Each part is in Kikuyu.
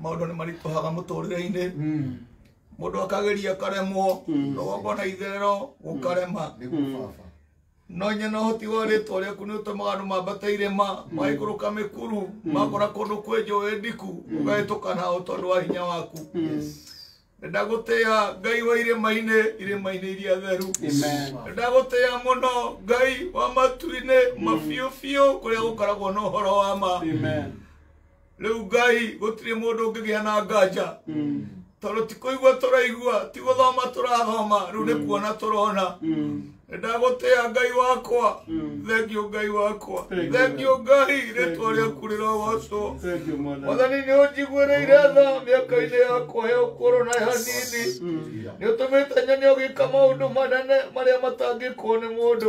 maundu ni marituhaga muturire-ini mundu akageria karemwo rũgongo na itherero gukarema no nye no hoti wa rĩtwa rĩaku nĩ ũtũmaga andũ mambata irĩma maikũrũka mĩkuru makora kũndũ kwĩ njũĩ ndiku ũgahĩtũka nao tondũ wa hinya waku ndagũtĩa ngai wa irĩma-inĩ irĩma-inĩ iria theru ndagũtĩa mũno ngai wa matu-inĩ mabiũ biũ kũrĩa gũkoragwo na ũhoro wa ma rĩu ngai gũtirĩ mũndũ ũngĩgĩa na nganja tondũ ti kũigua tũraigua ti gũthoma tũrathoma rĩu nĩ kuona tũrona ndagũtĩa ngai wakwa thengio ngai wakwa thengio ngai rĩtwa rĩaku rĩrogocwo mwathani nĩ ũnjiguĩrĩire tha mĩaka-inĩ yakwa ya ũkũrũ na ya nini nĩ ũtũmĩte nyone ũgĩka maũndũ manene marĩa matangĩkwo nĩ mũndũ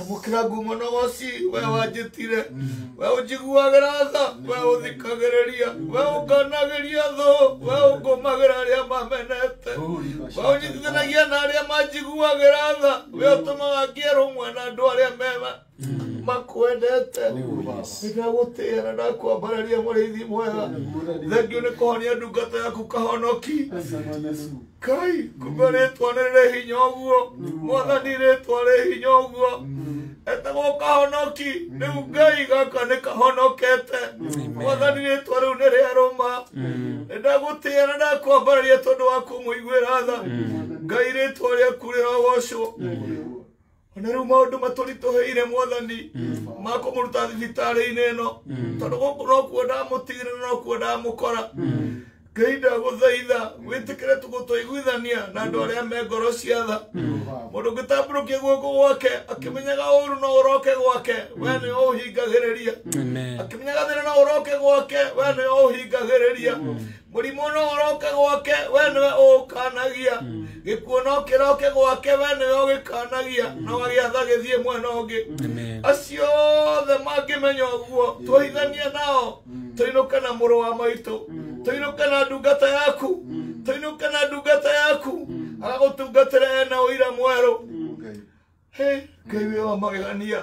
ngũkĩra ngumo na woci we wanjĩtire we ũnjiguagĩra tha we ũthikagĩrĩria we ũnganagĩria thũ we ũngũmagĩra arĩa mamenete we ũnyitithanagia na arĩa manjiguagĩra tha we ũtũmaga ngĩerũmwe na andũ arĩa mema makwendete ndagũtĩa na ndakwambararia mũrĩithi mwega thengiũ nĩ kũhonia ndungata yaku kahonoki kai kumbe rĩtwa nĩ rĩ hinya ũguo mwathani rĩtwa rĩ hinya ũguo etagwo kahonoki rĩu ngai gaka nĩ kahonokete mwathani rĩtwa rĩu nĩ rĩarũma nĩ ndagũtĩa na ndakwambarĩria tondũ wa kũmũiguĩra tha ngai rĩtwa rĩaku rĩrogocwo O na rĩu maũndũ matũritũhĩire mwathani ma kũmũruta thibitarĩ-inĩ ĩno tondũ gũkũ nokuo ndamũtigire na nokuo ndamũkora ngai ndagũthaitha wĩtĩkĩre tũgũtũiguithania na andũ arĩa me ngoro cia tha mũndũ ũngĩtambũrũkia guoko gwake akĩmenyaga ũru no ũroke gwake we nĩ ũhingagĩrĩria Amen. akĩmenyaga thĩna no ũroke gwake we nĩ ũhingagĩrĩria mũrimũ no ũroke gwake we nĩwe ũũkanagia gĩkuũ no kĩroke gwake we nĩwe ũgĩkanagia na wagĩatha gĩthiĩ mwena ũngĩ Amen. acio othe mangĩmenya ũguo tũhithanie nao tũinũke na mũrũ wa maitũ tũinũke na ndungata yaku tũinũke na ndungata yaku agagũtungatĩra ena ũira mwerũ Hey, ngai wĩ wa magegania